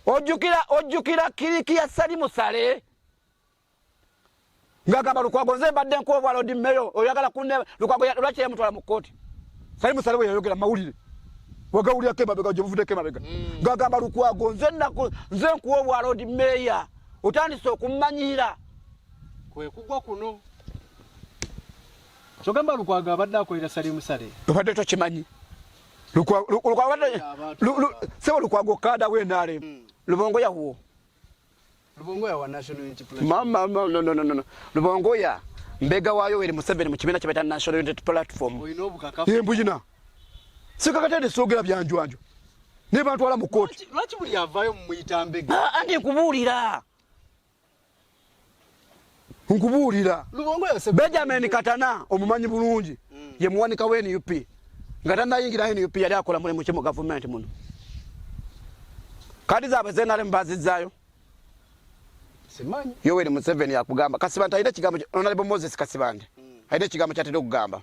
ojjukira ojjukira kiriki ya sali musale ngagamba lukwago nze mbadde nkuwa obwa lodi meyo oyagala kune lukwago lwaki yamutwala mu kkooti sali musale bwe yayogera mawulire wagawulirako emabega gyebuvudeko emabega mm. ngagamba lukwago nze nze nkuwa obwa lodi meya otandise okumanyira kwekugwa kuno kyogamba lukwago abadde akolera sali musale obadde tokimanyi sebo lukwago kada wenare mm. lubongo ya huo lubongo ya wa national unity platform mama no no no no lubongo ya mbega wayo wele museveni mukibina kibeta national unity platform ye mbujina sikakatende sogera byanjwanjo ne bantu ala mukoti lwaki buli yavayo mumuyita mbega ah, andi kubulira nkubuulira benjamin katana omumanyi bulungi mm. ye muwanika wa nup nga tanayingira nup yali akola mulimu ki mu gavumenti muno kadi zaabwe zenaremu bazizzaayo yoweri museveni yakugamba kasibante alina ekigambo onalebo moses kasibante mm. alina ekigambo kyatera okugamba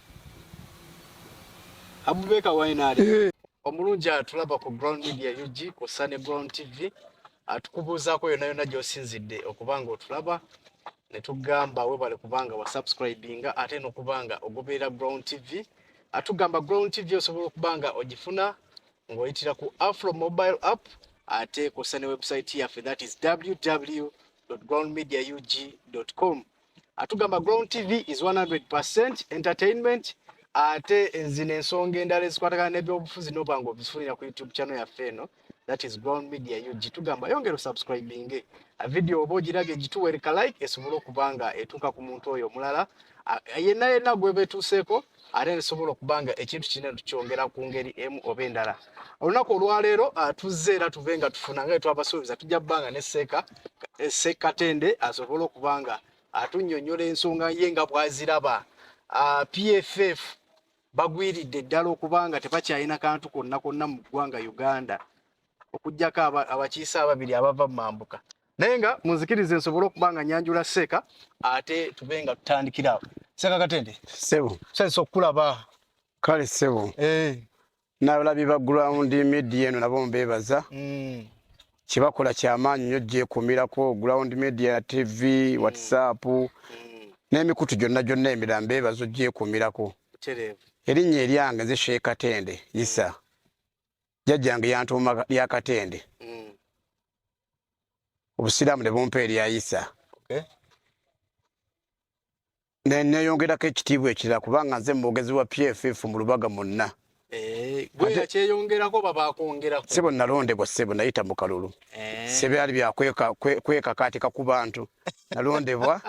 Abubeka Wainaali eh. omulungi atulaba ku Ground Media UG ku Sunny Ground TV atukubuuzaako yonna yonna gy'osinzidde okuba nga otulaba ne tugamba webale kubanga wa subscribinga ate n'okubanga ogoberera Ground TV atugamba Ground TV osobola okuba nga ogifuna ng'oyitira ku Afro mobile app ate ku Sunny website yaffe that is www.groundmediaug.com atugamba Ground TV is 100% entertainment ate enzina ensonga endala ezikwatagana n'ebyobufuzi noba nga obifunira ku YouTube channel yaffe eno that is Ground Media UG tugamba yongera subscribinge a video oba ogiraga egituwereka like esobole okuba nga etuuka ku muntu oyo omulala yenna yenna gwebetuuseeko ate nesobola okuba nga ekintu kina tukyongera ku ngeri emu oba endala olunaku olwaleero ah, tuzze era tuve nga tufuna nga twabasuubiza tujja kubanga ne seeka eh, seekatende asobole okuba nga atunyonyola ensonga ye nga bwaziraba ah, pff bagwiridde ddala okuba nga tebakyalina kantu konna konna mu ggwanga uganda okugyako abakiise ababiri abava mu mambuka naye nga munzikirize nsobole okuba nga nyanjula seeka ate tube nga tutandikira awo seeka katende sebo sensa okukulaba kale sebo eh. nabalabi ba ground media eno nabo mbebaza mm. kyebakola kyamaanyi nyo gyekumirako ground media tv mm. whatsapp mm. n'emikutu gyonna gyonna emirala mbebaza ogyekumirako erinnya eryange nze sheeka tende isa mm. jajja yange yantuuma lya katende mm. obusiraamu ne bumpa erya isa okay. neyongerako ekitiibwa ekirala kubanga nze mumwogezi wa pff mu lubaga munna eh, sebo nalondebwa sebo nayita mu kalulu eh. sebyali byakwekakaatika ku bantu nalondebwa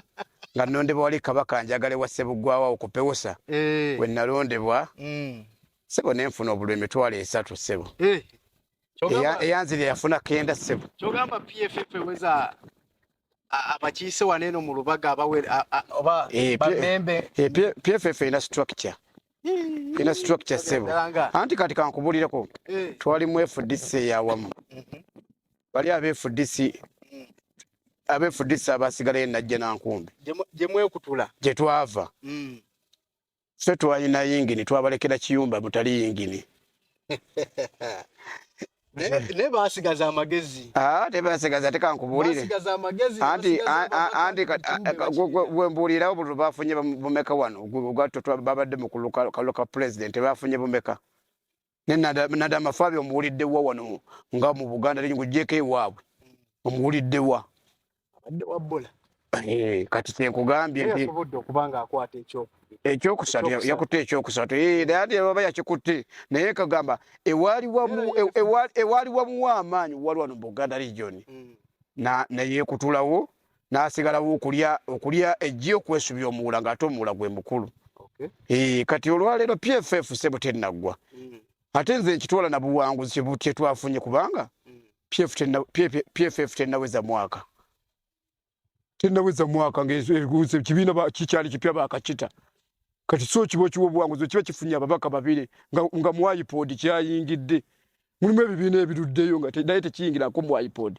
nga nondebwa wali kabaka njagale wa sebuggwawo okupewosa eh. we nalondebwa mm. sebo ne nfuna obulwa emitwalo esatu sebo eh, eyanzira yafuna kenda sebo kyogamba pff eweza abakiise wano eno mu lubaga abawebamembe eh, eh, pff erina structure ina structure sebo anti kati kankubulireko eh. twali mu fdc eyawamu mhm. bali abe fdc mm. abe fdc abasigalayo najja nankumbi gyemwekutula gyetwava mm. ffe twalina yingini twabalekera kiyumba mutali yingini ne basigaza amagezi ah, te basigaza te kankubuulire anti anti gwe mbuulirawo buli bafunye bumeka wano ogwatto babadde mu kuluka president bafunye bumeka ne nada mafabi omuwulidde wa wano nga mu buganda lenyi ku jeke wabwe omuwulidde wa abadde wa bola eh kati te kugambye nti yasubudde okubanga akwata ekyo ekyo kusatu yakutte ekyo kusatu eh dadi baba yakikutte naye kagamba ewali wa mu ewali wa mu wa amanyi wali wano buganda region mm. na naye kutulawo n'asigalawo okulya okulya ejji okwesubya omuwula ng'ate omuwula gwe mukulu eh, kati olwaleero pff sebo tennaggwa mm. ate nze nkitwala na buwanguzi kye twafunye kubanga mm. pff tennaweza mwaka tennaweza mwaka ngaekibiina kikyali kipya bakakita kati so kiba okiwa obuwanguzi okiba kifunye ababaka babiri nga mu ipod kyayingidde mulimu ebibiina ebiruddeyo nga naye tekiyingirako mu ipod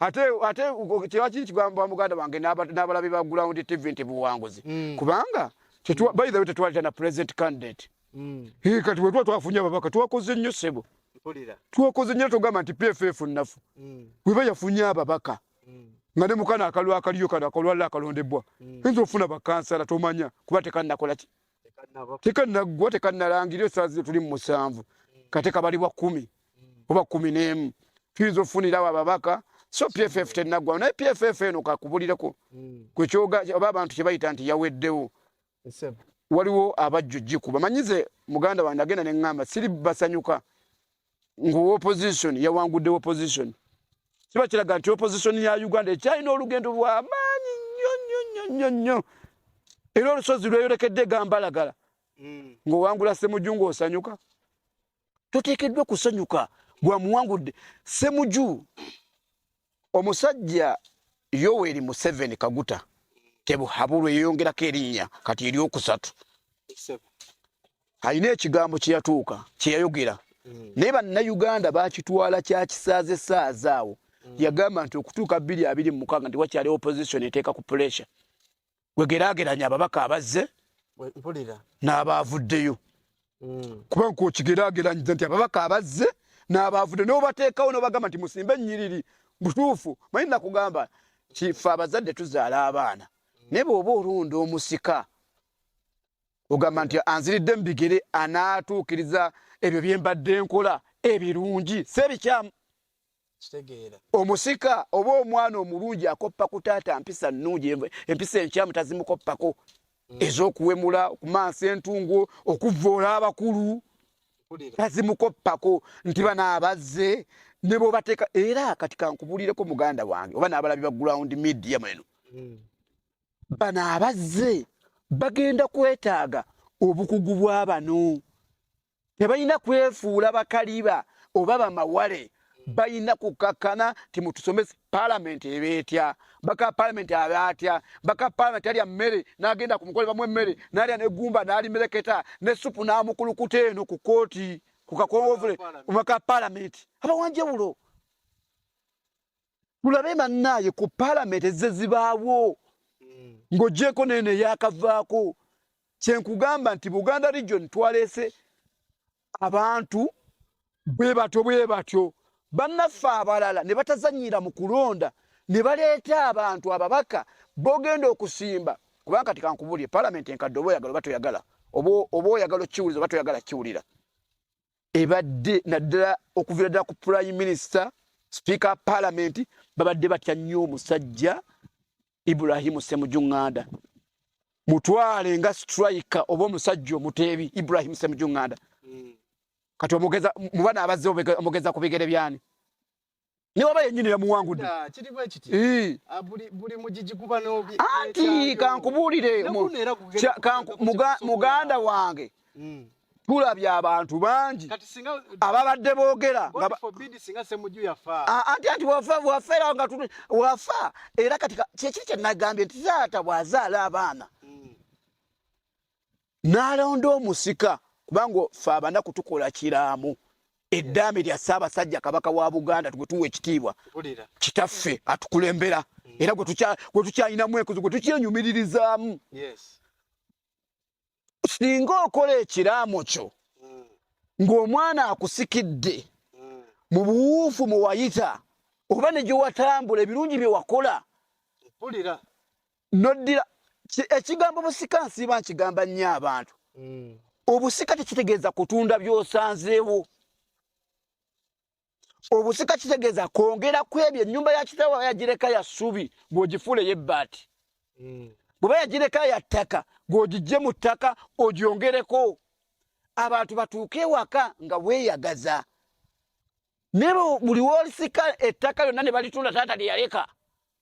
ate ate kyewakiri kigamba muganda wange n'abalabi ba ground tv nti buwanguzi mm. kubanga by the way tetwalita na president candidate mm. kati wetuba twafunye ababaka twakoze nnyo sebo twakoze nnyo togamba nti pff nnafu mm. weba yafunye ababaka nga ne mukana akalwa akaliyo kano akalwalla akalondebwa nza ofuna bakansala tomanya kuba tekannakolaki tekannaggwa tekannalangira esaazi gyetuli mu musanvu kate kabali bwa kumi oba kumi n'emu tuyinza okufunirawo ababaka so pff tenaggwa naye pff eno kakubulireko kwekyoga oba abantu kyebayita nti yaweddewo waliwo abajja ojikuba manyize muganda wange agenda neŋŋamba siri basanyuka ngu opposition yawangudde opposition kiba kiraga nti opposition ya uganda ekyalina olugendo lwamaanyi nnyo nnyo nnyo nnyo nnyo era olusozi lweyolekedde gambalagala hmm. ng'owangula semuju ng'osanyuka toteekeddwa kusanyuka gwamuwangudde semuju omusajja yoweri museveni kaguta tebuhabulwa eyeyongerako erinnya kati eryokusatu alina ekigambo kyeyatuuka kyeyayogera mm. naye bannayuganda bakitwala kyakisaaze saaza awo mm. yagamba nti okutuuka bbiri abiri mumukaaga nti wakyali opposition eteeka ku pressure wegerageranya ababaka abazze n'abaavuddeyo mm. kubanga kwokigerageranyiza nti ababaka abazze n'abaavudde nobateekawo nobagamba nti musimbe ennyiriri butuufu manyi nakugamba kife abazadde tuzaala abaana mm. naye bweoba olunda omusika ogamba nti anziridde mu bigere anaatuukiriza ebyo bye mbadde nkola ebirungi si ebikyamu omusika oba omwana omulungi akoppa ku taata mpisa nnungi empisa enkyamu tazimukoppako mm. ez'okuwemula okumansa entungo okuvvoola abakulu tazimukoppako nti bano abazze ne bwobateeka era kati kankubulireko muganda wange oba n'abalabi ba ground media mweno mm. bano abazze bagenda kwetaaga obukugu bwa bano tebalina kwefuula bakaliba oba bamawale balina kukakkana nti mutusomese palamenti eba etya baka palamenti aba atya baka palamenti alya mmere n'agenda ku mukole bamu emmere n'alya negumba n'alimereketa ne supu n'amukulukuta eno ku kooti ku kakongovule omaka palamenti abawanjewulo tulabe bannaaye ku palamenti ezze zibaawo hmm. ng'ogyeko naye neyakavaako kyenkugamba nti buganda region twaleese abantu bwe batyo bwe batyo bannaffe abalala ne batazanyira mu kulonda ne baleeta abantu ababaka bogenda okusimba kubanga kati kankubulire palamenti enkadde oba oyagala oba toyagala oba oyagala okiwuliza oba toyagala kiwulira ebadde naddala okuviira ddala ku prime minister sipiika wa paalamenti babadde batya nnyo omusajja ibrahimu semujunganda mutwale nga sitrika oba omusajja omuteebi ibrahimu semujunganda hmm. kati omugeza mubana abazze omugeza ku bigere byani newaba yenyini yamuwangudde ah, ah, anti kankubuulire muganda wange hmm. tulabye abantu bangi ababadde boogera ah, anti anti wafera nga wafa era kati kyekiri kyenagambye nti zaata bwazaala abaana hmm. n'alonda omusika kubanga fe abanaku tukola kiraamo eddaame lya ssaabasajja kabaka wa buganda gwe tuwa ekitiibwa kitaffe atukulembera mm. era gwe tukyalinamu enkuzi gwe tukyenyumiririzaamu singa okola ekiraamo kyo mm. ng'omwana akusikidde mm. mu buwuufu mwe wayita oba ne gye watambula ebirungi bye wakola noddira ekigambo busika nsiiba nkigamba nnyo abantu mm. obusika tekitegeeza kutunda byosanzeewo obusika kitegeeza kwongera ku ebyo ennyumba ya kitawa yagireka ya ssubi bw'ogifuula ey'ebbaati mm. bweba yagireka ya ttaka gw'ogijje mu ttaka ogyongereko abantu batuuke ewaka nga weeyagaza naye buli wolisika ettaka lyonna ne balitunda taata lye yaleka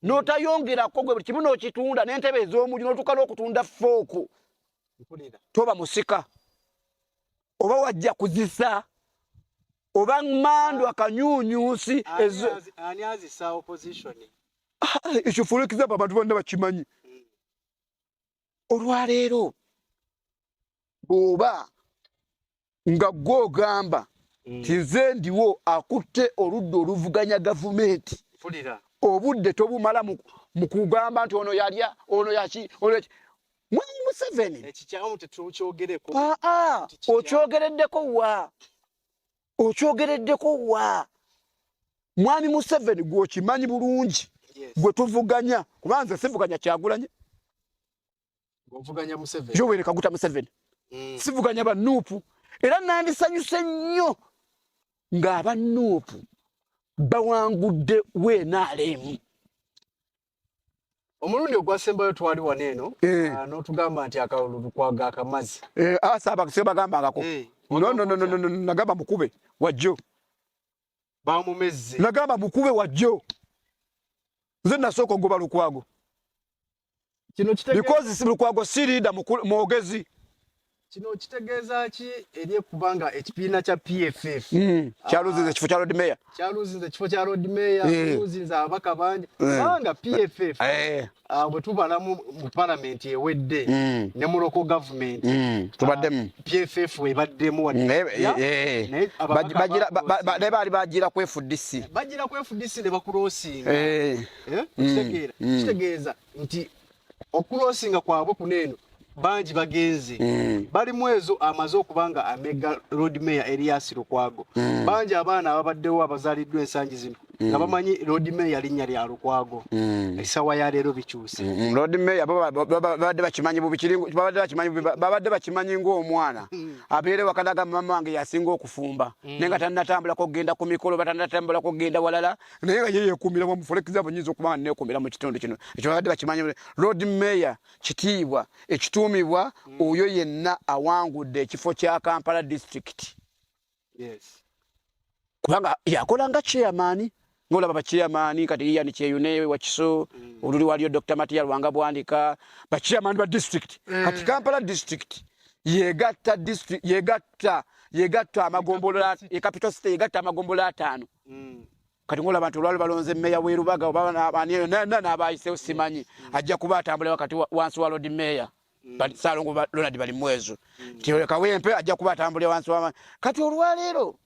n'otayongerako gwe buli kimu n'okitunda n'entebe ez'omuli n'otuuka n'okutunda fooku toba musika oba wajja kuzisa oba mandu akanyunyusi ekifulikiza abantu bonna bakimanyi olwaleero bw'oba nga gwe ogamba mm. tinze ndiwo akutte oludda oluvuganya gavumenti obudde tobumala mu kugamba nti ono yalya ono yaki ono mwami museveni aa ah, ah, okyogereddeko wa okyogereddeko wa mwami museveni gwokimanyi bulungi gwe tuvuganya kuba nze sivuganya kyagulanye yoweri kaguta museveni mm. sivuganya banuupu era nandisanyuse nnyo ng'abanuupu bawangudde weenaalemu omulundi ogwasembayo twali wano eno eh. ah, n'otugamba nti akalulu tukwaga akamazi eh, asaba ah, sebagambangako eh, nagamba mukube wajjo bamumezze nagamba mukube wajjo nze nasooka ogoba lukwago because lukwago si liida mwogezi kino kitegeeza ki eri ekubanga ekibiina kya PFF hmm. ah, kyaluzinze ekifo kya Lord Mayor kyaluzinze ekifo kya Lord Mayor hmm. kyaluzinze abaka bangi hmm. kubanga PFF eh. ah, bwe tubala mu palamenti ewedde ne mu loko gavumenti tubaddemu ah, PFF ebaddemu naye baali bagira ku FDC bagira ku FDC ne bakulosinga eh. eh, kitegeeza nti okulosinga kwabwe kuno eno bangi bagenze mm. bali mwezo amaze okuba nga amega road mayor Elias Lukwago mm. bangi abaana ababaddewo abazaliddwa ensangi zino mm. nga bamanyi road mayor linnya lya Lukwago mm. esawa ya leero bikyuse mm. mm. road mayor babadde bakimanyi bubikiribabadde bakimanyi babadde bakimanyi ng'omwana mm. abeere wakanaga mama wange yasinga okufumba mm. naye nga tanatambula kugenda ku mikolo batanatambula kugenda walala naye nga ye yeekuumira wamu for example nyinza okuba nga neekuumira mu kitundu kino ekyo babadde bakimanyi lord mayor kitiibwa ekituumibwa oyo yenna awangudde ekifo kya kampala district kubanga yakola nga chairmani ngolaba bachiyamani kati iya ni cheyune wa kiso mm. uluri walio Dr. Matia Rwanga Bwandika bachiyamani ba district mm. kati Kampala district yegata district yegata yegata amagombolola e capital city yegata amagombolola atano mm. kati ngola abantu olwali balonze meya werubaga obanaabayisewo simanyi mm. ajja kuba atambula wakati wansi wa lodi meya mm. salongo lonald bali mwezo tiolekawempe ajja kuba atambulira wansi wama kati olwaleero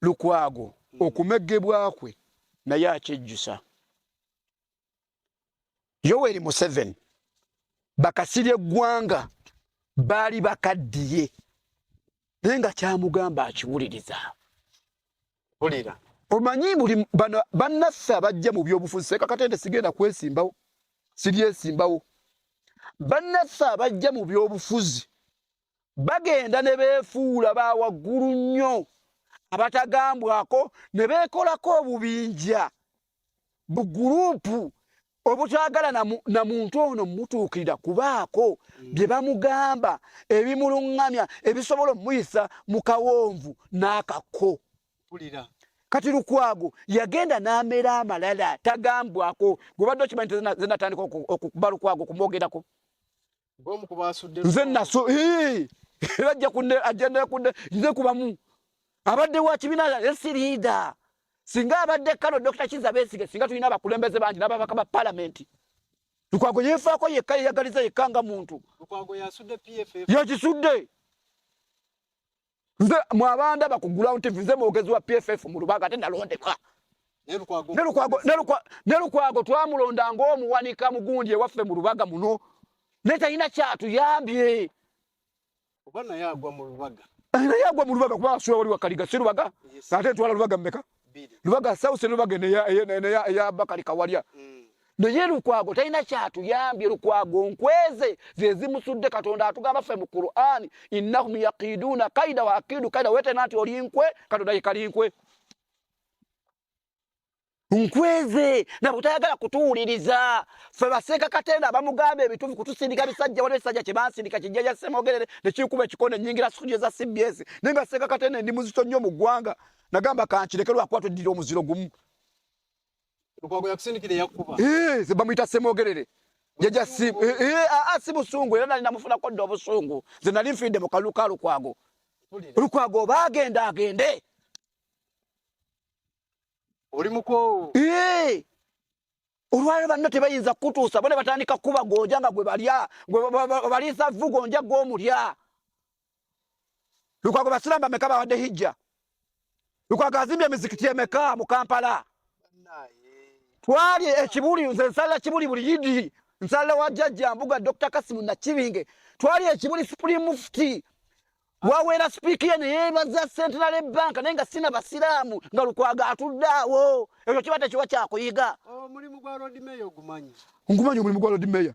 lukwago okumegebwakwe naye akyejjusa yoweri museveni bakasiri eggwanga baali bakaddiye naye nga kyamugamba akiwuliriza wulira omanyi buli bano bannaffe abajja mu byobufuzi sekakatende sigenda kwesimbawo siryesimbawo bannaffe abajja mu byobufuzi bagenda ne beefuula ba waggulu nnyo abatagambwako ne beekolako obubinja buguruupu obutwagala na muntu ono mutuukirira kubaako mm. bye bamugamba ebimuluŋŋamya ebisobola omuyisa mu kawonvu n'akakko kati lukwago yagenda n'amera amalala tagambwako gwebadde okimanyi zenatandika okuba lukwago okumwogerako nze naso era ajja kunde ajenda kunde nze kubamu abadde wa kibina esirida singa abadde kano dr kiza besige singa tulina abakulembeze bangi n'ababaka ba palamenti lukwago yefaako yekka yeyagaliza yekka nga muntu yakisudde nze mwabanda bakugula nti nze mwogezi wa pff mu lubaga ate nalondebwa ne lukwago twamulonda ngaomuwanika mugundi ewaffe mu lubaga muno naye talina kyatuyambye naye agwa mu lubaga kuba asula wali wakaliga si lubaga ate twala lubaga mumeka lubaga south lubaga ne ya ne ya, ya bakali kawalya mm. naye lukwago talina kyatuyambye lukwago nkweze zezimusudde katonda atugamba ffe mu qurani innahum yakiduuna kaida wa akidu kaida wetena nti oli nkwe katonda yekali nkwe nkweze nabo tayagala kutuwuliriza ffe baseeka katenda abamugamba ebituufu kutusindika bisajja waliwo ekisajja kye bansindika kijja kya ssemogerere nekikuba ekikona enyingira sukuja eza cbs naye nga seeka katenda endi muzito nnyo mu ggwanga nagamba kankireke lwakuba tweddira omuziro gumu eh, bamuyita semwogerere jaja si eh, eh, ah, ah, si busungu era nali namufunako dda obusungu nze nali nfiidde mu kalulu ka lukwago lukwago oba agenda agende oli mukoowu olwaliro banno tebayinza kukutuusa bona batandika kuba gonja nga gwe balya baliisa vvu gonja gwomulya Lukwago basiramu bameka bawadde hijja? Lukwago azimbye emizikiti emeka mu Kampala? Twali ekibuli nze nsala kibuli buli yidi nsala wa jajja mbuga Dr. Kasimu Nakibinge twali ekibuli Supreme Mufti wawera sipiiki ye neyebaza centenary bank naye nga sina basiraamu nga lukwaga atudde awo ekyo kiba tekiwa kyakuyiga omulimu gwa lord mayor ogumanyi ngumanyi omulimu gwa lord mayor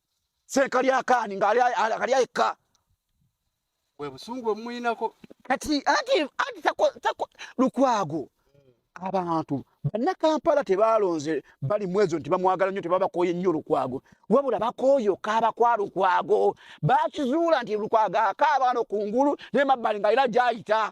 sekalyakaani nga ali ayekka webusungu omuyinako kati ati ati tako lukwago abantu bannakampala tebaalonze bali mwezo nti bamwagala nnyo tebabakooye nnyo lukwago wabula bakooyo kaaba kwa lukwago bakizuula nti lukwago akaaba no kungulu nemabbali nga era gyayita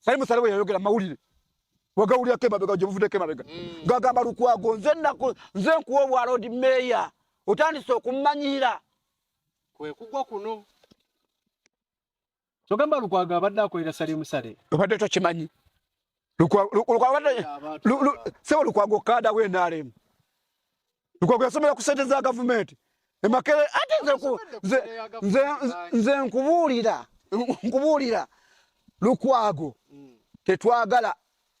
Salim Saleh yayogera mawulire wagawulira kema bega jemuvude kema bega mm. gagamba lukwago nze nako nze kuwo bwa road mayor otandise okumanyira kwe kugwa kuno kyogamba lukwago abadde akolera Salim Saleh obadde tokimanyi lukwago lukwago kada we nalemu Lukwago yasomera ku sente za gavumenti emakere ate nze nkubuulira nkubuulira lukwago tetwagala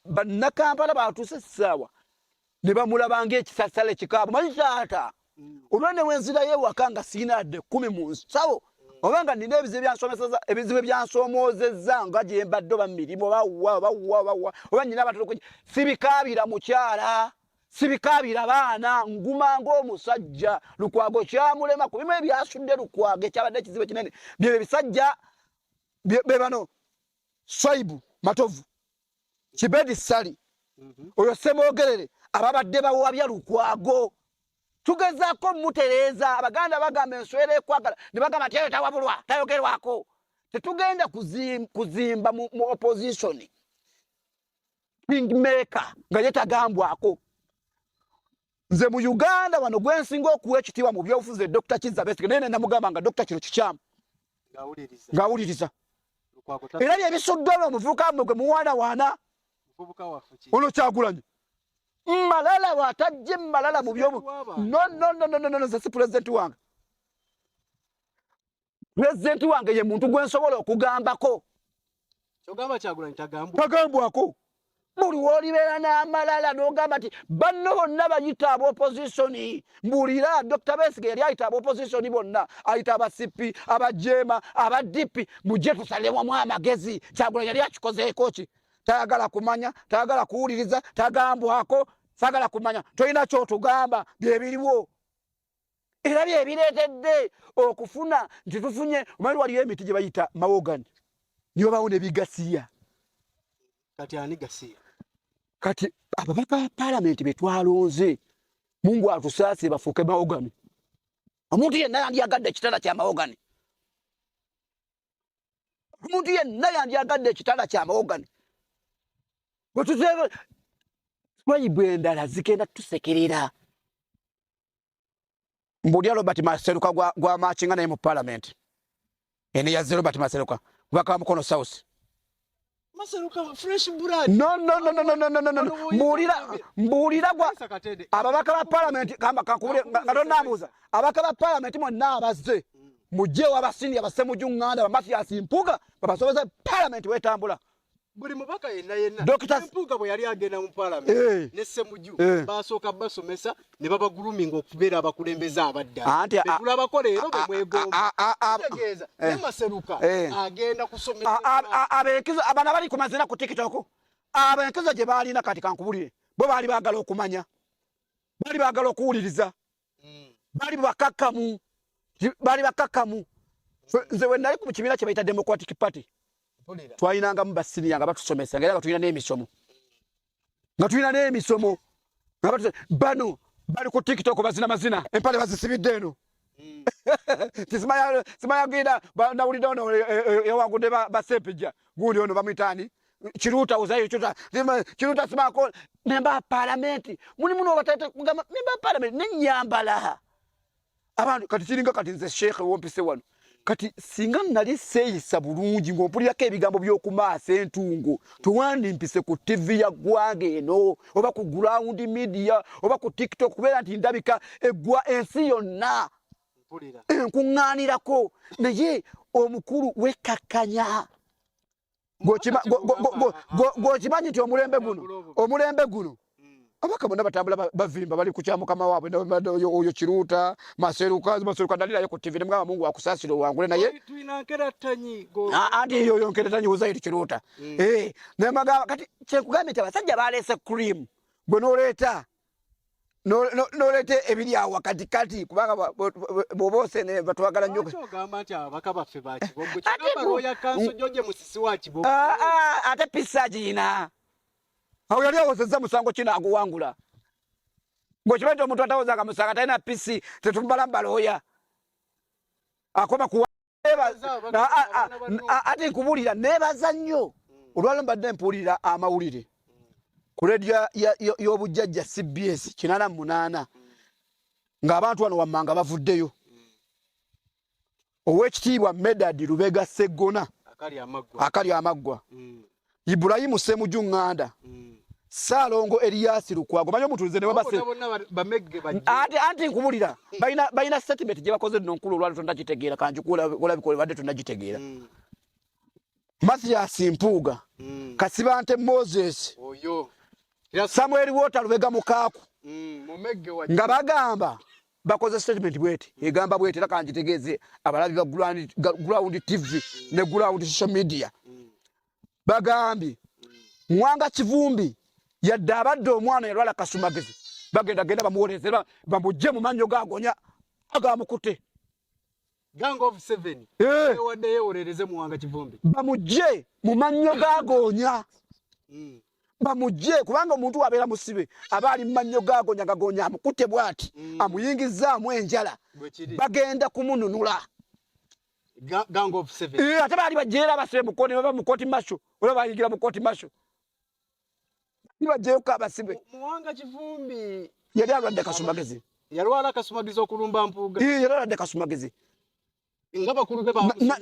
bannakampala batuuse essaawa ne bamulaba ngaekisasala ekikaabu manyi taata olwa ne wenzirayo ewaka nga sirina adde kumi mu nsawo oba nga nina ebizibu byansomeseza ebizibu byansomoozezza nga gyembadde oba mirimu oba wa oba wa oba wa oba nyina abatulukuj sibikaabira mukyala sibikaabira baana nguma ngaomusajja lukwago kyamulema ku bimu ebyasudde lukwago ekyabadde ekizibu ekinene byebyo ebisajja bebano swaibu matovu kibedi sali mhm. oyo semogerere ababadde bawabya lukwago tugezako mutereeza abaganda bagamba enswera ekwagala nebagamba nti eyo tawabulwa tayogerwako tetugenda kuzimba mu opposition kingmaker nga ye tagambwako nze mu uganda wano gwensinga okuwa ekitiibwa mu byobufuzi e dr kizza besige naye nenamugamba nga dr kino kikyamu ng'awuliriza era byebisuddwa no omuvubuka mwe gwe muwaanawaana ono kyagulanyi malala watajje malala mu byomu no no no no no no no nze si pulezidenti wange pulezidenti wange ye muntu gwe nsobola okugambako tagambwako buli wolibeera n'amalala n'ogamba nti banno bonna bayita abaopozisoni mbuulira dr besige yali ayita abaopozisoni bonna ayita abasipi abajeema abadipi mujje tusalewamw amagezi kyagula yali akikozeeko ki tayagala kumanya tayagala kuwuliriza tagambwako sagala kumanya tolina kyotugamba byebiriwo era byebireetedde okufuna nti tufunye omali waliyo emiti gye bayita mawogani nibabawo nebigasiya kati ani gasiya kati ababaka ba palamenti betwalonze mungu atusaase bafuuke mawogani omuntu yenna yandyagadde ekitala kya mawogani omuntu yenna yandyagadde ekitala kya mawogani bwetuzeba swayibu endala zigenda tusekerera mbulya robert maseruka gwa, gwa machinga naye mu parliament ene yaze robert maseruka kubaka wa mukono south mbulira gwa ababaka ba palamenti kakubule nga tonabuuza ababaka ba palamenti mwonna abazze mujjewo abasiniya basemuju ŋŋanda bamatiyasi mpuga babasobeza palamenti wetambula buli mubaka yenna yenna mpuuga bwe yali agenda mu palamenti eh. ne semuju eh. basooka basomesa ne babaguluminga okubeera abakulembeze abaddalabetulabako leero bemwegombategeeza eh. ne maseruka agenda kusomesaabana bali ku mazina ku tiktok abenkizo gye baalina kati kankubulire bo baali baagala okumanya baali baagala okuwuliriza mm. bali bakakamu bali bakakamu nze we nali ku kibiina kye bayita democratic party twalinangamu basiniya nga batusomesa ngaera nga tulina n'emisomo nga tulina n'emisomo bano bali ku tiktok bazina mazina empale bazisibidde eno mm. simayagenda nawulidde ono ewagude basepija gundi ono bamwitaani Kiruta uzayo chuta zima Kiruta simako memba parliament muni muno batata kugama memba parliament ne nyambala abantu kati kiringa kati nze sheikh wompise wano kati singa nali seyisa bulungi ng'ompulirako ebigambo by'okumaasa entungo tewandimpise ku tivi ya ggwanga eno oba ku ground media oba ku tiktok kubeera nti ndabika eggwa ensi yonna enkuŋŋaanirako naye omukulu wekakkanya gwokimanyi nti omulembe guno omulembe guno abaka bona batambula bavimba bali kukya mukama wabwe oyo kiruuta maseruka maseruka nalirayo ku tivi nemugamba mungu akusasire owangule naye anti yoyo nkeratanyi uzairi kiruuta mm. eh, nemagamba kati kyekugambye nti abasajja baleese cream gwe noleeta noleta ebiri awo wakati kati kubanga bobose ne batwagala nyo kyogamba nti abaka baffe ba kibogo kyogamba roya kanso joje musisi wa kibogo ah, ah, ate pisa jina awo yali awozeza musango kina aguwangula ngo kibete omuntu atawoza akamusanga talina pisi tetumbala mbaloya akoma kuwa ate nkubulira nebaza nnyo olwalo mbadde mpuulira amawulire ku redio y'obujjajja cbs kinana munaana ng'abantu wano wammanga bavuddeyo owekitiibwa medad lubega seggona akali amaggwa mm. Ibrahim Semuju Nganda mm. Salongo Elias Lukwago manyo mutulize ne babase ati anti nkubulira baina baina statement je bakoze no nkulu lwa tonda kitegera kanju kula kula bikole bade tonda kitegera mm. Mathias Mpuga mm. Kasibante Moses oyo oh, Samuel Water lubega mukaku mm. nga bagamba bakoze statement bweti egamba bweti era kanjitegeeze abalabi ba ground tv ne ground social media bagambye mwanga kivumbi yadde abadde omwana yalwala kasumagezi bagenda genda bamuwolezera bamujje mu mannyo gagonya agamukutte Gang of seven. Eh. Wadde yewolereze muwanga kivumbi. Bamujje mu mannyo gagonya. Mm. Bamujje kubanga omuntu wabeera musibe aba ali mannyo gagonya gagonya amukute bwati mm. amuyingizzaamu enjala bagenda kumununula. Gang of seven. Eh, ate baali bajjeera abasibe mu kkooti baba mu kkooti masho oba bayigira mu kkooti masho. nibajjayo ko abasibe muwanga kivumbi yali alwadde kasumagezi yalwala kasumagezi okulumba mpuuga yali alwadde kasumagezi nga bakulu be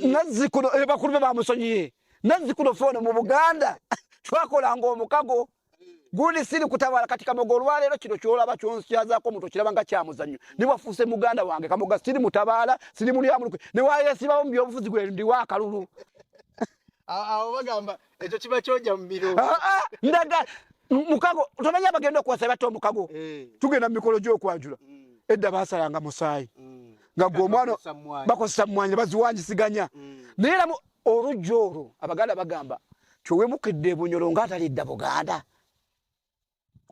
nazzikuno eh, bakulu be bamusonyiye nazzikuno foona mu buganda twakolanga omukago gundi siri kutabala kati kamoga olwaleero kino kyolaba kyonsikyazaako omuntu okiraba nga kyamuzannyo niwafuuse muganda wange kamoga siri mutabaala siri mulyamulukwe newayesibawo mu byobufuzi gwe ndiwo akalulu awo bagamba Ekyo kiba kyoja mu biro. Ah, ah, ndaga mukago tomanya abagenda okuwasa batta omukago eh. tugenda mu mikolo gy'okwanjula mm. edda basalanga musaayi mm. nga gwe omwana bakozesa mmwanyi baziwanjisiganya mm. naye era olujja olwo abaganda bagamba kyowemukidde ebunyolo nga atalidda buganda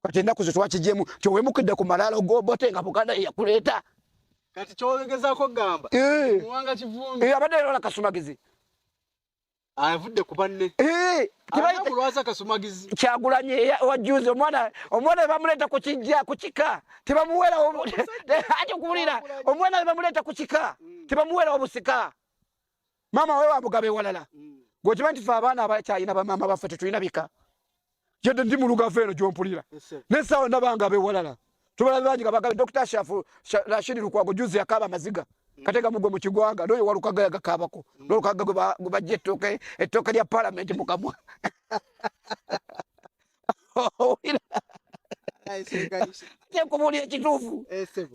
kati ennaku ze twakijemu kyowemukidde ku malaalo gobote nga buganda yeyakuleeta kati kyowegezako gamba eh. muwanga kivumbi eh, abadde era olakasumagizi avudde ku banne eh, kulwaza akasumagizi kyagulanyi wajuzi omwana omwana webamuleeta ku kijja ku kika tebamuwerawo ati okuwulira omwana webamuleeta ku kika mm. tebamuwerawo busika maama we wamugaba ewalala mm. gwekiba nti fe abaana abakyalina bamaama baffe tetulina bika yadde ndi mu lugavu eno gyompulira naye saawa nabanga abewalala tubala bangi nga bagala dokita shafu rashidi lukwago juzi yakaaba amaziga mm. kateka mugwe mu kigwanga noyo walukaga yagakaabako mm. nolukaga gwe bajja ettooke ettooke lya palamenti mukamwa kyekubuulira ekituufu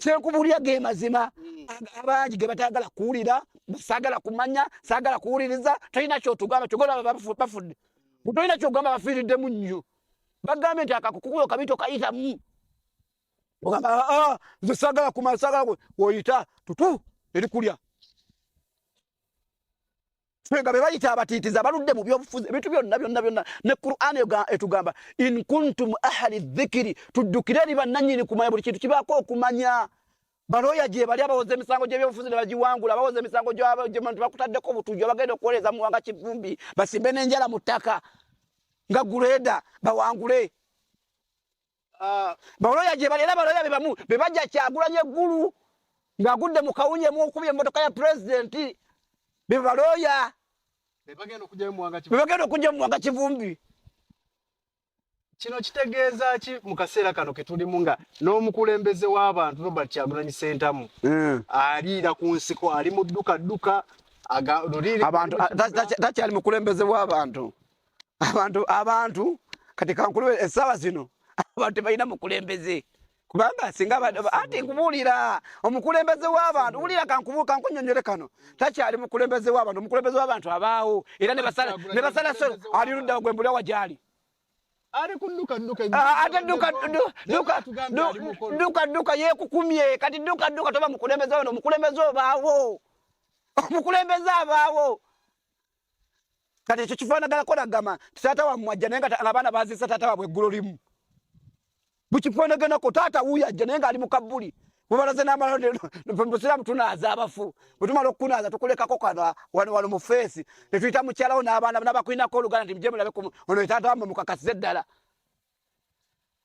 kyekubuulira ge mazima hmm. abangi ge batayagala kuwulira saagala kumanya saagala kuwuliriza tolina kyotugamba kyogola bafudde Kutolina kyogamba bafiiriddemu nnyo. Bagambye nti akakukukulo kabi tokayitamu. Ogamba aa ah, ah, nze sagala kumala sagala kwe oyita tutu eri kulya. Fega be bayita abatiitiza baludde mu byobufuzi ebintu byonna byonna byonna ne Qur'ani etugamba in kuntum ahli dhikri tuddukire eri bannannyini kumanya buli kintu kibaako okumanya balooya gyebali abawoza emisango gyebyobufuzi nebagiwangula abawoza emisango gyebantu bakutaddeko obutujju abagenda okuwoleeza muwanga kivumbi basimbe n'enjala mu ttaka nga guleeda bawangule ah. balooya gyebali era balooya bebamu bebajja kyagulanya eggulu ng'agudde mu kawunye muokubya emmotoka ya pulezidenti bebalooya bebagenda okujja mu muwanga kivumbi kino kitegeeza ki mu kaseera kano ke tulimu nga n'omukulembeze w'abantu Robert Kyagulanyi Ssentamu hmm. aliira ku nsiko ali mu dduka dduka abantu takyali mukulembeze w'abantu abantu abantu kati kankulu essaawa zino abantu tebalina mukulembeze kubanga singa anti nkubuulira omukulembeze w'abantu wulira kankubu kankunyonyole kano takyali mukulembeze w'abantu omukulembeze w'abantu abaawo era ne basala solo ali ludda gwe mbuli awa gyali ate duka duka yekukumye kati duka duka toba mukulembeze wano omukulembeze obaawo omukulembeze abaawo kati ekyo kifaanaganako nagamba nti taata wammwe ajja naye nga abaana baziisa taata waabwe eggulo limu bukifaanaganako taata wuyo ajja naye ngaali mu kabbuli bubalaze namalmusiraamu tunaaza abafu bwetumala okukunaaza tukulekako kana wano wano mu feesi netuyita mukyalawo n'abaana nabakulinako oluganda nti mujemulabe ono etaata wammwe mukakasize ddala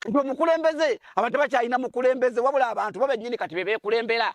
nti omukulembeze abantu bakyalina mukulembeze wabula abantu bo bennyini kati bebekulembera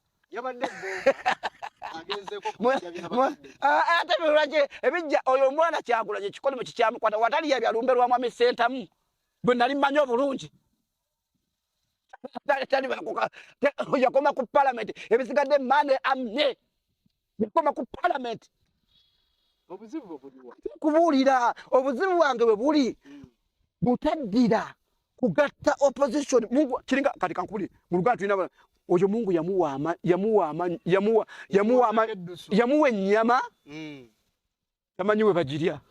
yabadde ah, ah, ate lwaki ebijja oyo omwana kyagula gyekikole mu kikyamukwata watali yabyalumbe lwa mwami sentamu bwe nali mmanyi obulungi yakoma ku palamenti ebisigadde mane amne bikoma ku parliament obuzibu obuliwa kubuulira obuzibu bwange bwe buli hmm. butaddira kugatta opposition mungu kiringa kati kankubuli mu luganda tulina oyo mungu yamuwa ama yamuwa ama yamuwa yamuwa ama yamuwa ennyama hmm. tamanyi we bagirya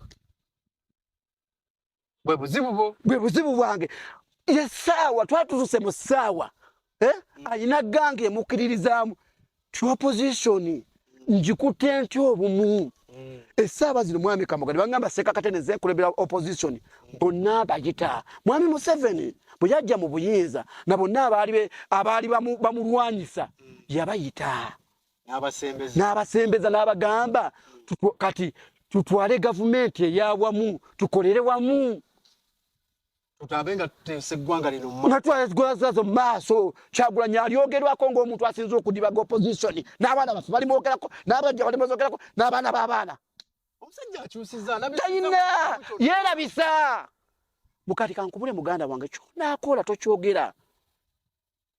bwe buzibu bwo bwe buzibu bwange ye saawa twatutuse mu saawa eh? mm. alina gange emukiririzaamu topposition njikute nti obumu mm. esaaba zino mwami kamoga nebagamba sekakate nezekulebera opposition bonna bagita mwami museveni bwe yajja mu buyinza na bonna abaali bamulwanyisa mm. yabayita n'abasembeza n'abagamba kati tutwale gavumenti eyawamu tukolere wamu natwazwazo maaso kyagulanyi alyogerwako ngaomuntu asinza okudibaga opposition n'abaana bafe balimwogerako n'abajja balimwogerako n'abaana b'abaana talina yeerabisa mukati kankubule muganda wange kyonaakoola tokyogera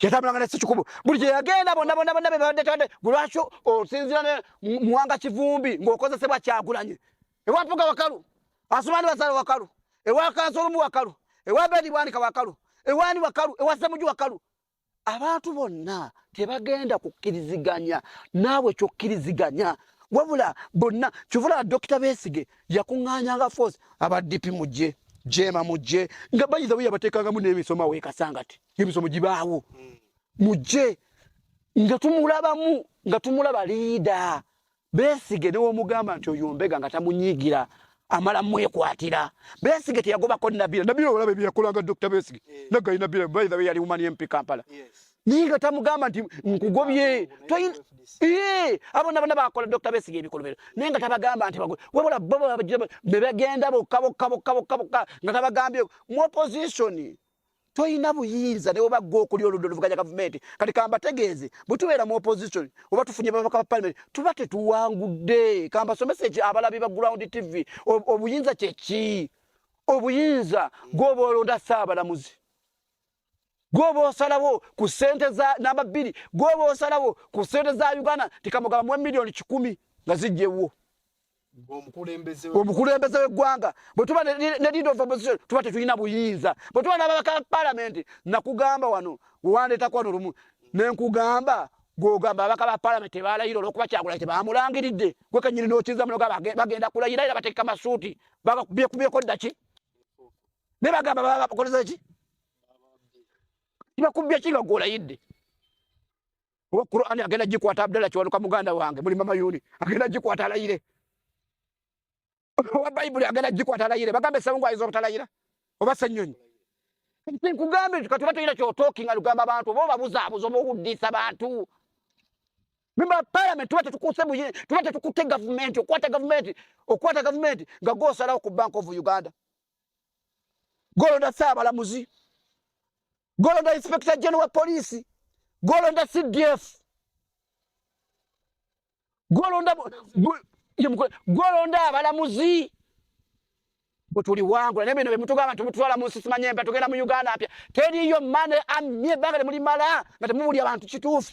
yatambulanga ne sekikubo buli gye yagenda bonna bonna bonna bebabadde tande gwe lwaki osinzira ne muwanga kivumbi ng'okozesebwa kyagulanye ewa mpuga wakalu asumani basala wakalu ewa kansolumu wakalu ewa bedi bwanika wakalu ewani wakalu ewa semuju wakalu abantu bonna tebagenda kukkiriziganya naawe kyokkiriziganya wabula bonna kivulaa dokita besige yakuŋŋanyanga force abadipi mujje jeema mujje nga bayiza weyabateekangamu n'emisoma wekasangati ebisomo gibaawo hmm. mujje nga tumulabamu nga tumulaba liida besige newomugamba nti oyo mbega nga tamunyigira amala mwekwatira besige teyagobako nabira nabira olaba ebyeyakolanga dr besige eh. nagayi nabira baitha we yali umani mp kampala naye nga tamugamba nti nkugobye eh, abona bona bakola dr besige ebikolobero naye nga tabagamba nti wabula bebagenda bokka bokka bokka bokka bokka nga tabagambye mu opposition toyina buyinza newoba gwe okuli oludda oluvuganya gavumenti kati kambategeeze bwetubeera mu opposition oba tufunye babaka ba palimenti tuba tetuwangudde kambasomesa ekyo abalabi ba ground tv obuyinza kyeki obuyinza gwoba olonda saabalamuzi gwoba osalawo ku sente za namba bbiri gwoba osalawo ku sente za uganda tikamugamba muwe miliyoni kikumi nga zijjewwo omukulembeze w'eggwanga bwe tuba ne leader of opposition tuba tetulina buyinza bwe tuba n'ababaka palamenti nakugamba wano wewandeetako wano lumu ne nkugamba gwogamba ababaka ba palamenti tebalayira olwokuba kyagulai tebamulangiridde gwe kenyini n'okiza munoga bagenda kulayira era bateeka masuuti bekubyeko ddaki ne bagamba babakozesa ki tibakubbya ki nga gwolayidde oba Qur'an agenda gikwata Abdalla kiwanuka muganda wange muli mama yuni agenda gikwata alayire oba Bible agenda gikwata alayire bagambe sabungu ayizo obutalayira oba senyonyi nti nkugambe nti katuba tuyina kyotokinga lugamba abantu oba obabuzabuza oba okuddisa bantu memba parliament tuba tetukuuse tuba tetukutte gavumenti okwata gavumenti okwata gavumenti nga gosalawo ku bank of uganda golonda saabalamuzi golonda inspector general wa police golonda cdf golonda golonda abalamuzi bwetuliwangula naye bino bemutugamba nti mututwala munsi simanye mpa tugenda mu uganda mpya teriyo mane amye ebbanga temulimala nga temubuli abantu kituufu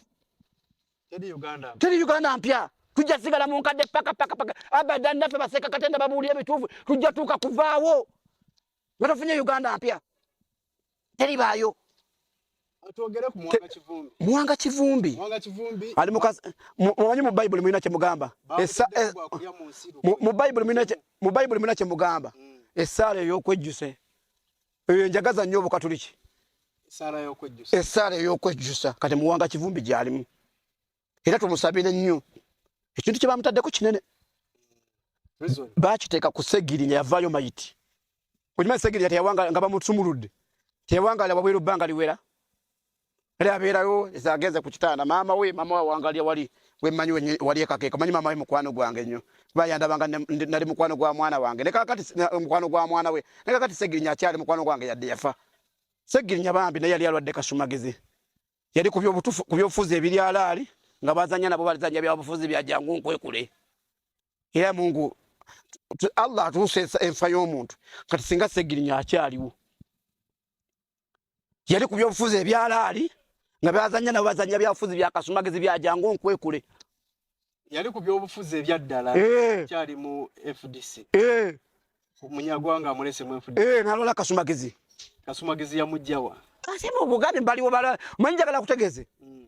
teri uganda mpya tujja sigala mu nkadde pakapakapaka abadan naffe baseeka katenda babuulira ebituufu tujja tuuka kuvaawo Batafunye Uganda mpya. Teri bayo. Atwogere ku mwanga kivumbi. Mwanga kivumbi. Mwanga kivumbi. Ali mukazi mwanyi mu Bible mwina kye mugamba. Esa eh, mu Bible mwina kye mu Bible mwina kye mugamba. Mm. Esale yo kwejuse. Eyo njagaza nyo bukatuliki. Esale yo kwejuse. Esale yo kwejuse. Kati mwanga kivumbi gyalimu. era tumusabire nnyo ekintu kye bamutaddeko kinene bakiteeka ku segiri nga yavaayo mayiti okimanyi segiri yati yawanga nga bamusumuludde teyawangala wabweru bbanga liwera era abeerayo ezagenze ku kitanda maama we maama we awangalya wali wemanyi wali ekakeeka manyi maama we mukwano gwange nnyo kuba yandabanga nali mukwano gwa mwana wange nekakati mukwano gwa mwana we nekakati segirinya akyali mukwano gwange yadde yafa segirinya bambi naye yali alwadde kasumagizi yali ku byobufuzi ebiri alaali nga bazanya nabo balizanya byabufuzi byajangu nkwekule era mungu allah atuuse enfa y'omuntu kati singa segirinya akyaliwo yali ku byobufuzi ebyalaali nga bazanya nabo bazanya byabufuzi byakasumagizi byajangu nkwekule yali ku byobufuzi ebyaddala eh. kyali mu fdc eh. munyagwanga amulese mu fdc eh, nalwala kasumagizi kasumagizi yamujjawa ate mu buganda baliwo bala manyi njagala kutegeze mm.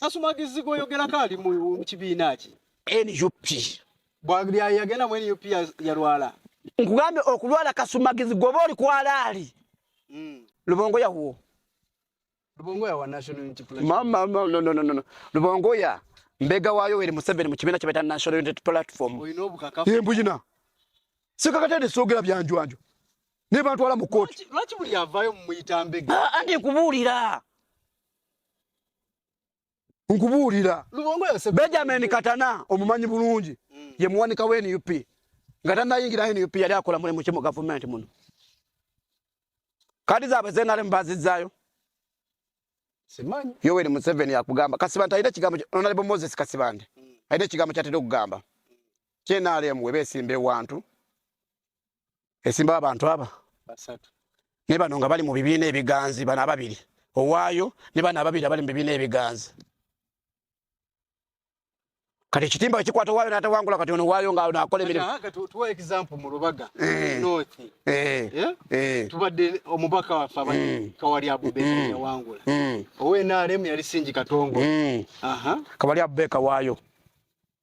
kasumagizi gwoyogerako ali mu kibiina ki nup bwayagenda mu nup yalwala nkugambye okulwala kasumagizi gwoba oli kwalaali mm. lubongo yawuwo Lubongoya wa National Unity Platform. Mama, mama, no, no, no, no. Lubongoya mbega wa Yoweri Museveni mu kibiina kyebayita National Unity Platform. Olina obukakafu. Ye mbuyina. Sikakatende soogera byanjwanjwa. Ne bantwala mu kkooti. Lwaki buli avaayo mumuyita mbega? Ah, andi nkubuulira. nkubuulira benjamin katana omumanyi bulungi mm. ye muwanika wa nup nga tanayingira nup yali akola mulimu ki mu gavumenti muno kadi zaabwe zenalemu bazizzaayo yoweri museveni akugamba kasibante alina ekigambo onalebo moses kasibante mm. alina ekigambo kyatera okugamba kyenalemu webeesimba ewantu esimba abantu aba ne bano nga bali mu bibiina ebiganzi bano ababiri owaayo ne bano ababiri abali mu bibiina ebiganzi kati ekitimba ekikwata owaayo n'atawangula kati ono owaayo nga ono akola emirimu tubadde omubaka waffe abali mm. kawali abubeka mm. yawangula mm. owe nrm yali singi katongo kawali abubeka waayo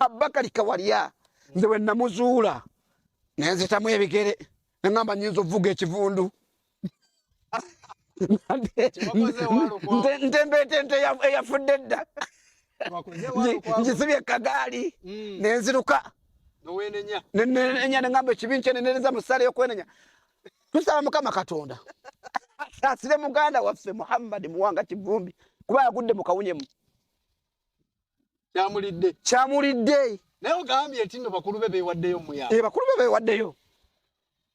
Abakali Kawalya nze bwe namuzuula ne nzitamu ebigere ne ŋŋamba nnyinza okuvuga ekivundu ntembeeta ente eyafudde edda ngisibye kagaali mm. ne nziruka nenenya ne ŋŋamba ekibi nkyenenereza mu ssaala ey'okwenenya tusaba mukama katonda asaasire muganda waffe muhammadi muwanga kivumbi kuba yagudde mu kawunyemu kyamulidde kyamulidde naye ogambye nti no bakulu be bewaddeyo muya e eh, bakulu be bewaddeyo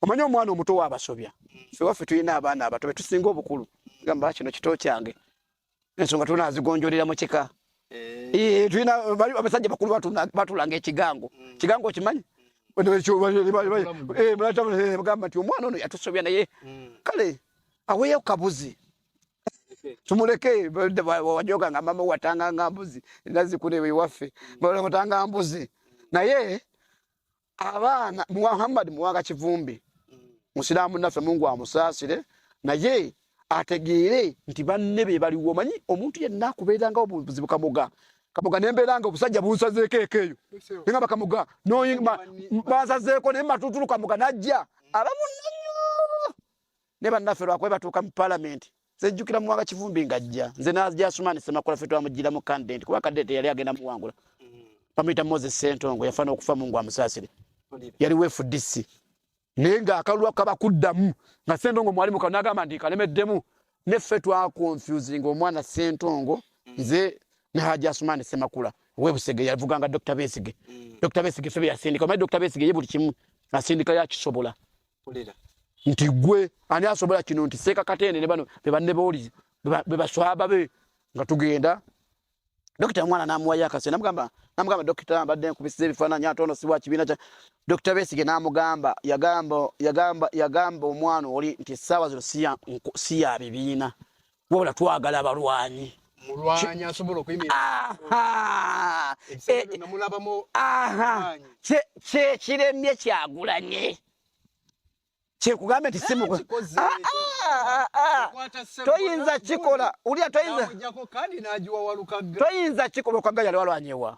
omanyi omwana omuto waabasobya mm. fe waffe tulina abaana abato betusinga obukulu gamba kino kito kyange ensonga tulina azigonjolera mu kika eh. Eh, tulina abasajja bakulu batulanga ekigango mm. kigango okimanyi gamba nti omwana ono yatusobya naye mm. kale aweeyo kabuzi tumuleke wajoga nga mama watanga nga mbuzi nazi kule we wafe bora watanga mbuzi na ye abana Muhammad muwanga kivumbi musilamu nafe Mungu amusasire na ye ategere nti banne be bali womanyi omuntu yenna kubeera nga obuzi bukamuga kamuga nembeera nga obusajja bunsazeeko ekeeyo ninga bakamuga noyinga bansazeeko naye matutulu kamuga najja abamu ne bannaffe lwakuba batuuka mu palamenti sejjukira muwanga kivumbi ngajja nze najasumani semakula fe twamujjira mu kandidenti kuba kandidenti yali agenda muwangula bamuyita moses sentongo yafa n'okufa mungu amusaasire yali weefudisi naye ng'akalulu akaba kuddamu nga sentongo mwali muka nagamba nti kalemeddemu ne ffe twakonfusinga omwana sentongo nze ne hajasumani semakula webusege yavuganga dr besige mm. dr besige fe beyasindika omanyi dr besige ye buli kimu asindika yakisobola nti gwe ani asobola kino nti seeka katende ne bano be banne booli be baswaba be nga tugenda dokita omwana namuwayo akase namugamba namugamba dokita mbadde nkubisiza ebifaananyi ate ono siwa kibiina kya dokita besige namugamba yagamba yagamba yagamba omwana oli nti essaawa zino siya bibiina wabula twagala abalwanyi mulwanyi asobola okuyimirkyekiremye kyagulanye kyekugambye nti simtoyinza kikola ulya toyinza kikola okwaga yali walwanyewa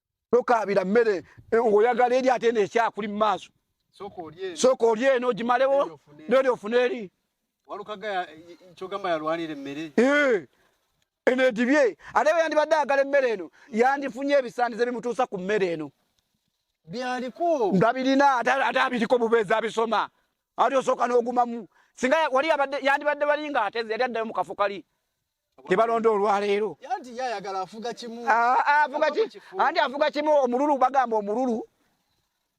tokaabira mmere eh, ng'oyagala eri ate neekyakuli mu maaso sooka oli eno ogimalewo neri ofuna eri eh, eno edibye ate bwe yandibadde ayagala emmere eno yandifunye ebisaanizo ebimutuusa ku mmere eno ndabirina ate abiriko bubeezi abisoma ate osooka n'ogumamu singa wali yandibadde balinga ateze yali addayo mu kafo kali tebalonda olwaleero anti afuga kimu omululu bagamba omululu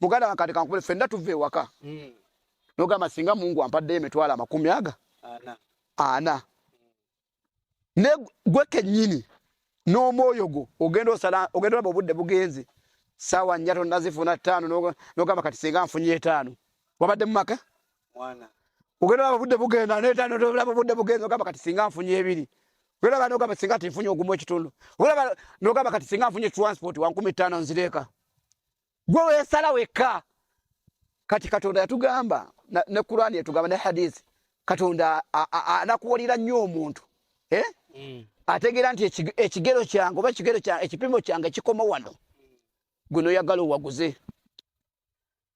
muganda wakati kankubule fenna tuva ewaka hmm. nogamba singa mungu ampaddeyo emitwalo amakumi aga ana ne gwe kennyini n'omwoyo gwo ogenda osala ogenda olaba obudde bugenze saawa nnya tonnazifuna ttaano nogamba kati singa nfunye etaano wabadde mu maka mwana ogenda laba budde bugenda neta nolaba budde bugenda ogamba kati singa nfunye ebiri ogenda laba nogamba singa tinfunye ogumu ekitundu ogenda nogamba kati singa nfunye transport wankumi ttaano nzireeka gwe wesala wekka kati katonda yatugamba ne kurani yatugamba ne hadisi katonda anakuwalira nnyo omuntu eh? mm. ategeera nti ekigero kyange oba ekigero ekipimo kyange kikoma wano gwe noyagala owaguze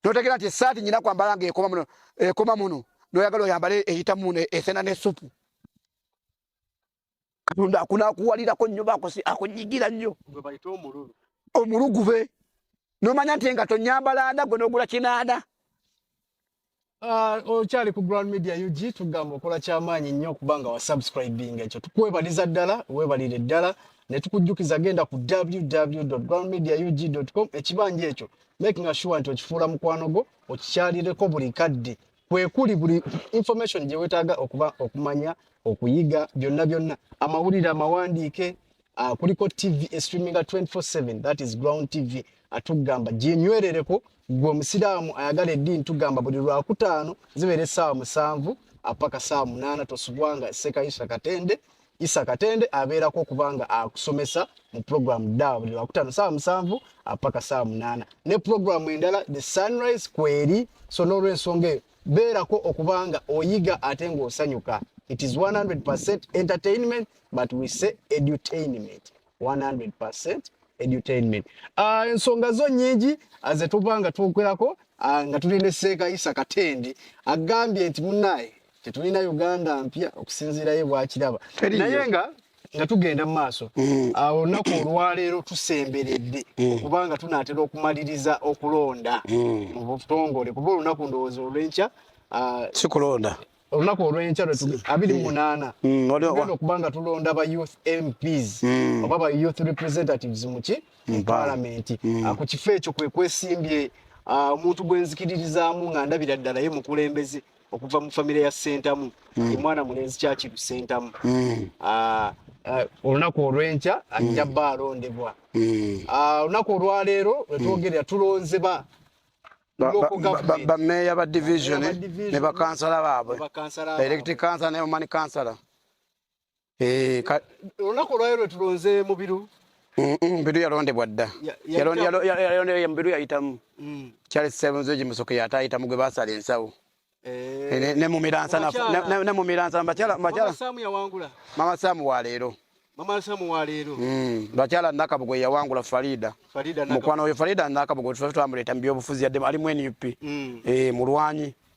notegera nti esaati nyina kwambala nga ekoma muno ekoma muno noyagala oyambale eyita muno esena ne supu katonda akunakuwalirako nnyo bakosi akunyigira nnyo omulugube nomanya nti nga tonyambala nda gwe nogula kinaana Ah, okyali ku Grand Media UG tugamba okola kyamaanyi nnyo okuba nga wasubscribing ekyo tukwebaliza ddala webalire ddala ne tukujjukiza genda ku www.groundmediaug.com ekibanja ekyo making sure nti okifuula mukwano gwo okikyalireko buli kadde kwekuli buli information gye weetaaga okuba okumanya okuyiga byonna byonna amawulire amawandiike uh, kuliko tv estreaminga 247 that is ground tv atugamba ginywerereko gwe omusiraamu ayagala eddiini tugamba buli lwakutaano zibeera essaawa musanvu apaka ah, saawa munaana tosubwanga sekayisa katende Isa Katende abeerako okuba nga akusomesa mu pulogulaamu dda buli lwakutaano saawa musanvu apaka saawa munaana ne pulogulaamu endala the sunrise kweri so n'olwensonga eyo beerako okuba nga oyiga ate ng'osanyuka it is 100 entertainment but we say edutainment 100 edutainment uh, ensonga zo nyingi aze ah, tuba nga twogerako uh, nga tuli ne seeka isa katende agambye nti munaye tetulina uganda mpya okusinziirayo bwakiraba naye nga nga tugenda mu maaso mm. awo olunaku olwaleero tusemberedde mm. kubanga tunaatera okumaliriza okulonda mm. mu butongole kuba olunaku ndowooza olwenkya ah, sikulonda olunaku olwenkya abiri munaana tugenda okuba nga tulonda ba youth mps oba ba youth representatives muki mu palamenti ah, ku kifo ekyo kwekwesimbye ah, omuntu gwenzikiririzaamu nga ndabira ddala ye mukulembeze okuva mu famire ya sentamu mm. omwana mulenzi kyakiru sentamu mm. ah, ah, olunaku olwenkya ajja mm. ba alondebwa mm. ah, olunaku mm. olwaleero wetwogerera mm. tulonze ba bameeya ba division ne bakansala baabwe electric kansala ne omani kansala Eh, olunaku olwayo lwe tulonze mubiru mbiru yalondebwa dda mbiru yayitamu mm. charles sebunzoji musoke yatayitamu gwe basala ensawo eh. eh, nemumiransa mama samu waleero bakyala mm, nakabugo yeyawangula farida mukwano oyo farida nakabugo twamuleta mubyobufuzi yaddemu alimu nup mm. eh, mulwanyi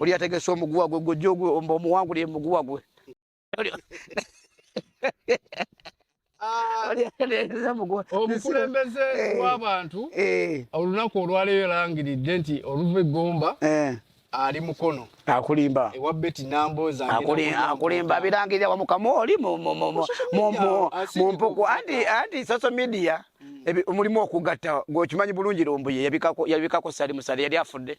oli yategese omuguwa gwe gojja ogwomba omuwanguli emuguwa gwe ah. omukulembeze eh. w'abantu eh. olunaku olwaleero erangiridde nti oluva eggomba eh. ali mukono akulimba ewa beti namboza akulimba abirangirira wamukama oli mu mpuku anti social media mm. omulimu okugatta gwekimanyi bulungi lumbuye yabikako sali musale yali afudde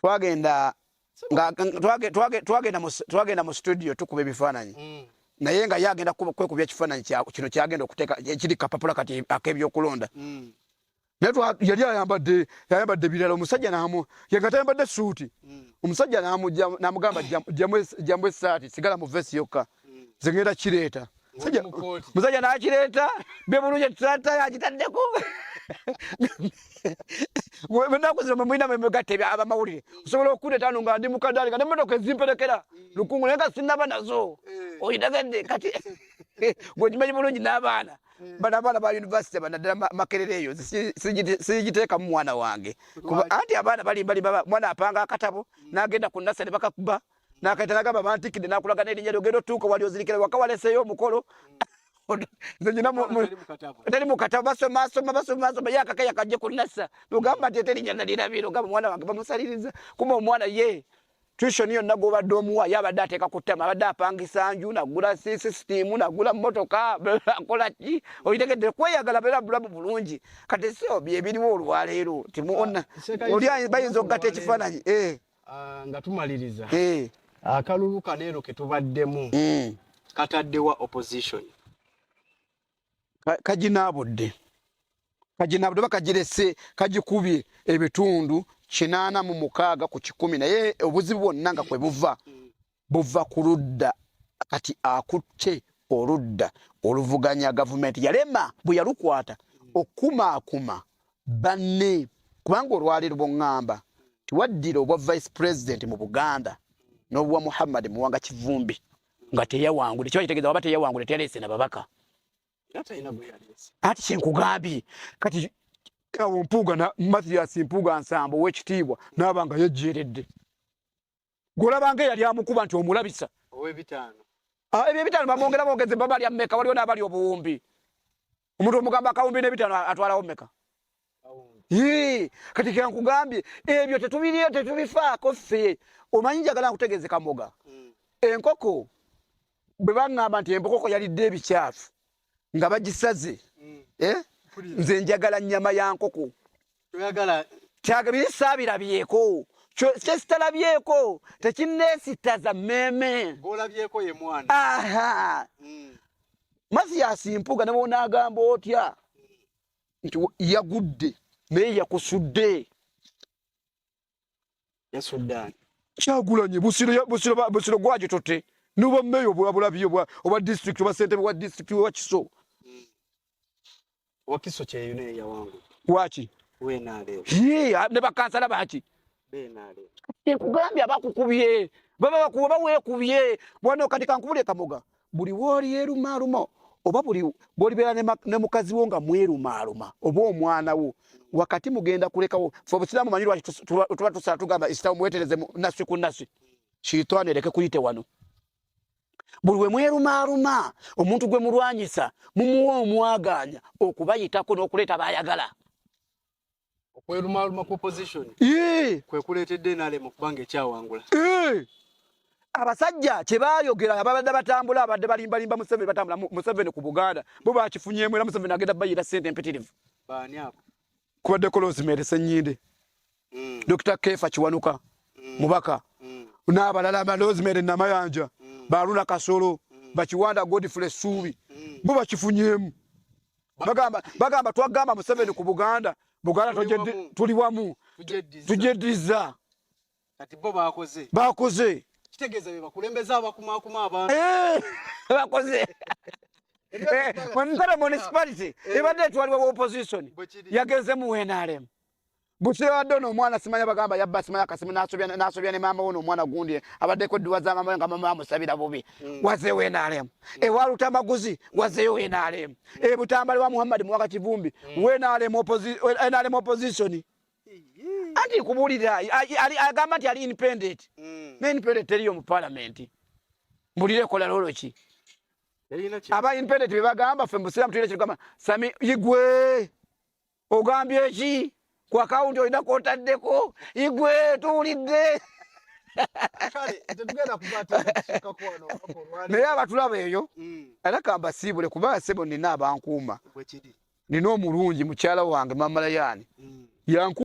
twagenda twagenda mu studio tukuba ebifaananyi mm. naye nga ye agenda kwekubya ekifaananyi kino kyagenda okuteeka ekiri kapapula kati ak'ebyokulonda mm. naye yali ayambadde yayambadde birala omusajja namu yenga tayambadde suuti mm. omusajja namugamba jamu esaati sigala mu vesi yokka zegenda kireeta musajja nakireeta bebulungi etulata yakitaddeko enaku zino mwemulina mwemugatta abamawulire osobola okuleeta ano nga ndi mukadaali nga nemotoka ezimperekera lukungu naye nga sinaba nazo eh. oyitegedde kati gwekimanyi bulungi n'abaana eh. bana abaana ba univesity banaddala makerere eyo sigiteekamu mwana wange anti abaana balimbalimba mwana apanga akatabo hmm. n'agenda ku nasa ne bakakuba nakayita nagamba bantikide nakulaga nerinnya lyogenda otuuka wali ozirikira waka waleseeyo omukolo teri mukatabo basomasoma basomasoma yakaka yakajje kunasa nogamba nti eterinya nalirabira ogamba omwana wange bamusaliriza kuma omwana ye tuition yonna gwobadde omuwa ye abadde ateeka ku ttama abadde apangisa nju nagula sisitimu nagula motoka akola ki oyitegedde kweyagala beera bulamu bulungi kati sio byebiriwo olwaleero timuona ah, oli bayinza okugata ekifaananyi eh. Ah, nga tumaliriza eh. akalulu kano eno ketubaddemu hmm. kataddewa opposition kaginaabudde kaginaabudde oba kagirese kagikubye ebitundu kinaana mu mukaaga ku kikumi naye obuzibu bwonna nga kwe buva buva ku ludda kati akutte oludda oluvuganya gavumenti yalema bwe yalukwata okukumaakuma banne kubanga olwaleero bongamba tiwaddira obwa vice president mu buganda n'obwa muhammad muwanga kivumbi nga teyawangule kiba kitegeeza waba teyawangule teyaleese na babaka ati kyenkugambye kati awo mpuuga mathias mpuuga nsambo owekitiibwa naaba nga yejjeeredde golabanga eyali amukuba nti omulabisa owebitaano ah, ebyo ebitaano bamwongera bogeze baba lya meka waliwo n'abali obuwumbi omuntu omugamba akawumbi n'ebitaano atwalawo meka kati kenkugambye ebyo tetubiriyo tetubifaako ffe omanyi njagala nkutegeeze kamoga hmm. enkoko bwe baŋŋamba nti embokoko yalidde ebikyafu nga bagisaze mm. eh? nze njagala nnyama ya nkoko kyabisaabirabyeko kyesitalabyeko tekinneesittaza mmeeme mm. mathiyasi mpuga ne bwonaagamba otya mm. nti yagudde naye yakusudde ya Sudan kyagulanye busiro ya busiro ba busiro gwaje tote nuba meyo bwa bula biyo bwa oba district oba center wa district wa kiso mm. wa kiso cha yune ya wangu wachi we na leo ye ne bakansala bachi be na leo te kugambya bakukubye baba bakuba we kubye bwana katika nkubule kamoga buli wolyerumaaluma oba buli bwolibeera ne mukazi wo nga mwerumaaluma oba omwana wo wakati mugenda kulekawo fe obusiraamu manyi lwaki tuba tusala tugamba isiramu mwetereze nasi ku nasi shiitaani ereke kuyite wano buli we mwerumaaluma omuntu gwe mulwanyisa mumuwa omwagaanya okubayitako n'okuleeta bayagala okwerumaaluma ku opposition kwe kuleetedde nrm okuba nga ekyawangula abasajja kye baayogera ababadde batambula abadde balimbalimba museveni batambula museveni ku buganda bo bakifunyemu era museveni agenda bayira sente empitirivu kubadde kolozimere senyinde mm. dr kefa kiwanuka mm. mubaka mm. n'abalala balozimere namayanja baluna kasolo bakiwanda godfrey suubi bo bakifunyemu bagamba bagamba twagamba museveni ku buganda buganda tuli wamu tujeddiza kati bo bakoze bakoze kitegeeza be bakulembeza abakumakuma abantu eh, bakoze eh, ntara municipality ebadde eh. etwalibwa wa opposition yagenze mu nrm Busiro abadde ono omwana simanya bagamba yabba simanya kasimu nasobya nasobya ne maama ono omwana gundi abaddeko edduwa za maama nga maama amusabira bubi mm. wazeewo enaalemu mm. ewa lutamaguzi wazeeyo enaalemu mm. e butambale wa muhammadi muwaka kivumbi mm. wenaalemu enaalemu opposition anti kubuulira agamba nti ali independent mm. ne independent teriyo mu palamenti mbulire ekola lolo ki aba independent bebagamba fe mbusiramu tuyire kirugamba sami igwe ogambye ki ku akawunti olina kwotaddeko igwe tuwulidde naye abatulaba eyo mm. era kambasiibule kuba sebo nina abankuuma nina omulungi mukyala wange mamalayani mm. yanku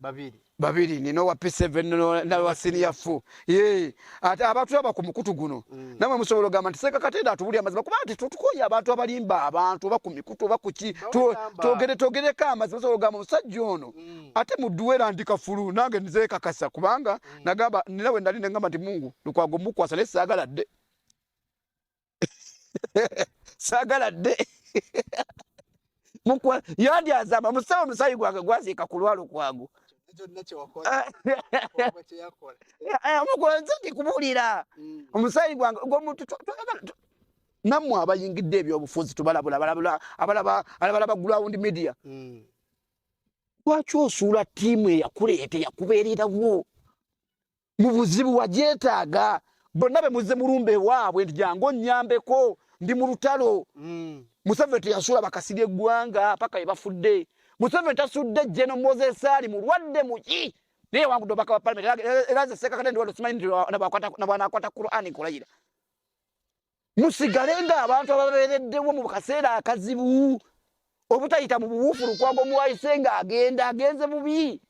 babiri babiri nina owa p7 nawa senior fu ye ate abantu aba ku mukutu guno mm. namwe musobola ogamba nti seeka katenda atubuli amazima kuba nti tutukoye abantu abalimba abantu oba ku mikutu oba kuki togere togereko amazima osobola ogamba omusajja ono mm. ate muduwera ndi kafulu nange nzekakasa kubanga mm. nagamba nina we nali nengamba nti mungu lukwago mukwasa naye saagala dde sagala dde yandi azama musaba omusayi gwange gwaziika ku lwalo kwangu mugonze ndi kubuulira mm. omusayi gwange gwomuntu nammwe abayingidde ebyobufuzi tubalabula abalaba ground media mm. lwaki osuula tiimu eyakuleeta yakubeererawo mu buzibu wagyetaaga bonna be muzze mulumba ewaabwe nti jangu onnyambeko ndi mu lutalo mm. museveni teyasuula bakasirya eggwanga paka ye bafudde museveni tasudde jeno moses ali mulwadde muki naye wangudde obaka wa palamenti era nze seekakate ndiwadde simanyi nti nabwanakwata qurani kulayira musigale nga abantu ababeereddewo mu kaseera akazibu obutayita mu buwuufu lukwago muwayise nga agenda agenze bubi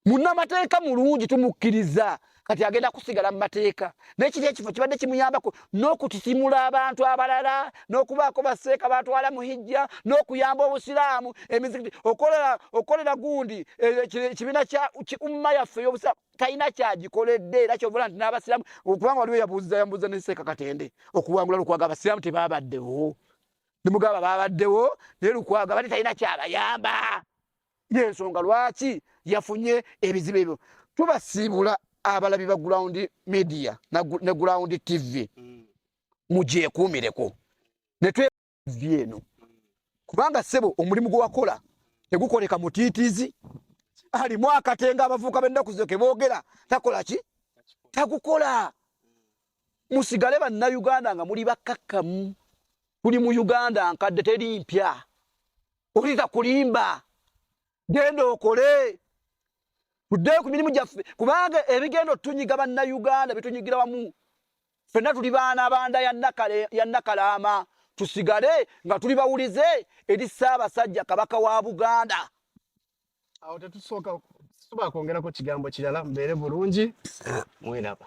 munnamateeka mulungi tumukkiriza kati agenda kusigala mu mateeka nekiri ekifo kibadde kimuyambako n'okutitimula abantu abalala n'okubaako baseeka batwala mu hijja n'okuyamba obusiraamu emizikiti okukolera gundi e, ekibiina kya umma yaffe ey'obusiraamu talina kyagikoledde era kyobola nti n'abasiraamu okubanga waliwo yabuuza yambuuza ne seeka katende okuwangula lukwaga abasiraamu tebabaddewo nemugamba babaddewo naye lukwaga bate talina kyabayamba yensonga lwaki yafunye ebizibu ebyo tubasiibula abalabi ba ground media ne ground tv mm. mugyekuumireko netwevi eno kubanga sebo omulimu gwewakola tegukoleka mutiitizi alimu akatenga abavuuka bennaku zo keboogera takola ki takukola musigale bannayuganda nga muli bakkakkamu tuli mu uganda nkadde teri mpya obuliza kulimba genda okole tuddeyo ku mirimu gyaffe kubanga ebigenda otunyiga bannayuganda bitunyigira wamu fenna tuli baana banda yannakalaama tusigale nga tuli bawulize eri ssaabasajja kabaka wa buganda awo tetusooka tuba kwongerako kigambo kirala mbeere bulungi mwiraba